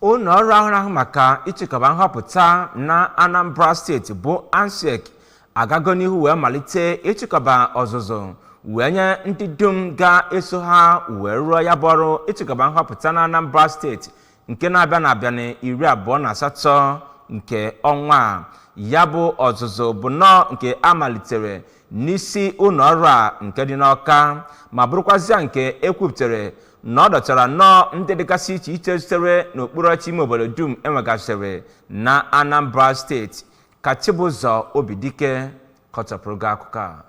ụlọ ọrụ ahụ na-ahụ maka ịchịkọba nhọpụta na anambra steeti bụ ansiec agago n'ihu wee malite ịchịkọba ọzụzụ wee nye ndị dum ga-eso ha wee rụọ ya bụ ọrụ ịchịkọba nhọpụta na anambra steeti nke na-abịa na-abịa na iri abụọ na asatọ nke ọnwa a ya bụ ọzụzụ bụ nnọọ nke a malitere n'isi ụlọ ọrụ a nke dị n'ọka ma bụrụkwazịa nke ekwupụtara na ọ dọtara nnọọ ndị dịgasị iche iche sitere n'okpuru ọchị ime obodo dum enwegasịrị na anambra steeti ka chibụzọ obidike kọchapụrụ gị akụkọ a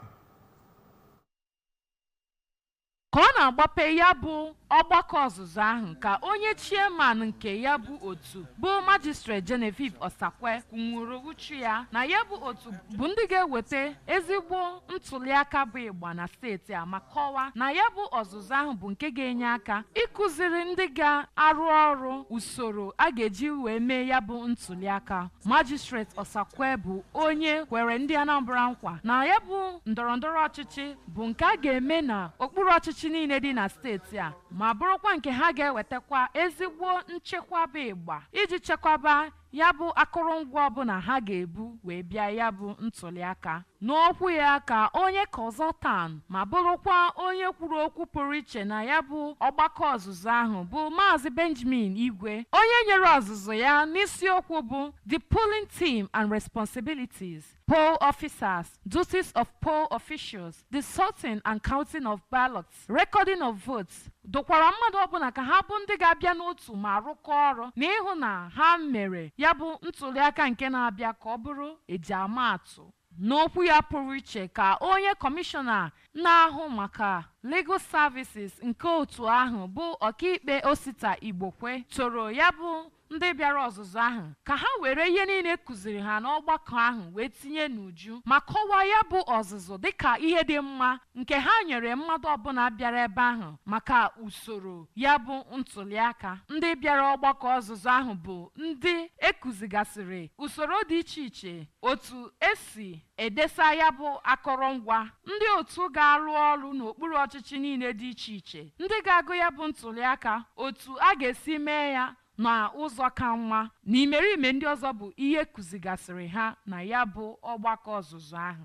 Ka ọ na-agbape ya bụ ọgbakọ ọzụzụ ahụ ka onye Chairman nke ya bụ otu bụ Magistrate Genevieve Osakwe kwunwuru uchu ya na ya bụ otu bụ ndị ga-eweta ezigbo ntụliaka bụ ịgba na steeti a ma kọwaa na ya bụ ọzụzụ ahụ bụ nke ga-enye aka ịkụziri ndị ga-arụ ọrụ usoro a ga-eji wee mee ya bụ ntụliaka Magistrate Osakwe bụ onye kwere ndị Anambra nkwa na ya bụ ndọrọndọrọ ọchịchị bụ nke a ga-eme na okpuru ọchịchị niile dị na steeti a ma bụrụkwa nke ha ga-ewetakwa ezigbo nchekwa bụ ịgba iji chekwaba ya bụ akụrụngwa ọbụla ha ga-ebu wee bịa ya bụ ntụliaka n'okwu ya ka onye consultant ma bụrụkwa onye kwuru okwu pụrụ iche na ya bụ ọgbakọ ọzụzụ ahụ bụ maazị benjamin igwe onye nyere ọzụzụ ya n'isiokwu bụ the polling team and responsibilities Poll officers, duties of poll officials, the sorting and counting of ballots, recording of votes, dụkwara mmadụ ọbụla ka ha bụ ndị ga-abịa n'otu ma rụkọọ ọrụ na ịhụ na ha mere ya bụ ntụliaka nke na-abịa ka ọ bụrụ eji ama atụ. N'okwu ya pụrụ iche ka onye kọmishọna na-ahụ maka Legal Services nke otu ahụ bụ ọkaikpe Osita Igbokwe toro ya bụ Ndị bịara ọzụzụ ahụ ka ha were ihe niile e kụziri ha n'ọgbakọ ahụ wee tinye n'uju ma kọwaa ya bụ ọzụzụ dị ka ihe dị mma nke ha nyere mmadụ ọbụla bịara ebe ahụ maka usoro ya bụ ntụliaka. Ndị bịara ọgbakọ ọzụzụ ahụ bụ ndị e kụzigasịrị usoro dị iche iche otu e si edesa ya bụ akọrọngwa, ndị otu ga-arụ ọrụ n'okpuru ọchịchị niile dị iche iche, ndị ga-agụ ya bụ ntụliaka, otu a ga-esi mee ya na ụzọ ka mma na imerime ndị ọzọ bụ ihe e kụzigasịrị ha na ya bụ ọgbakọ ọzụzụ ahụ.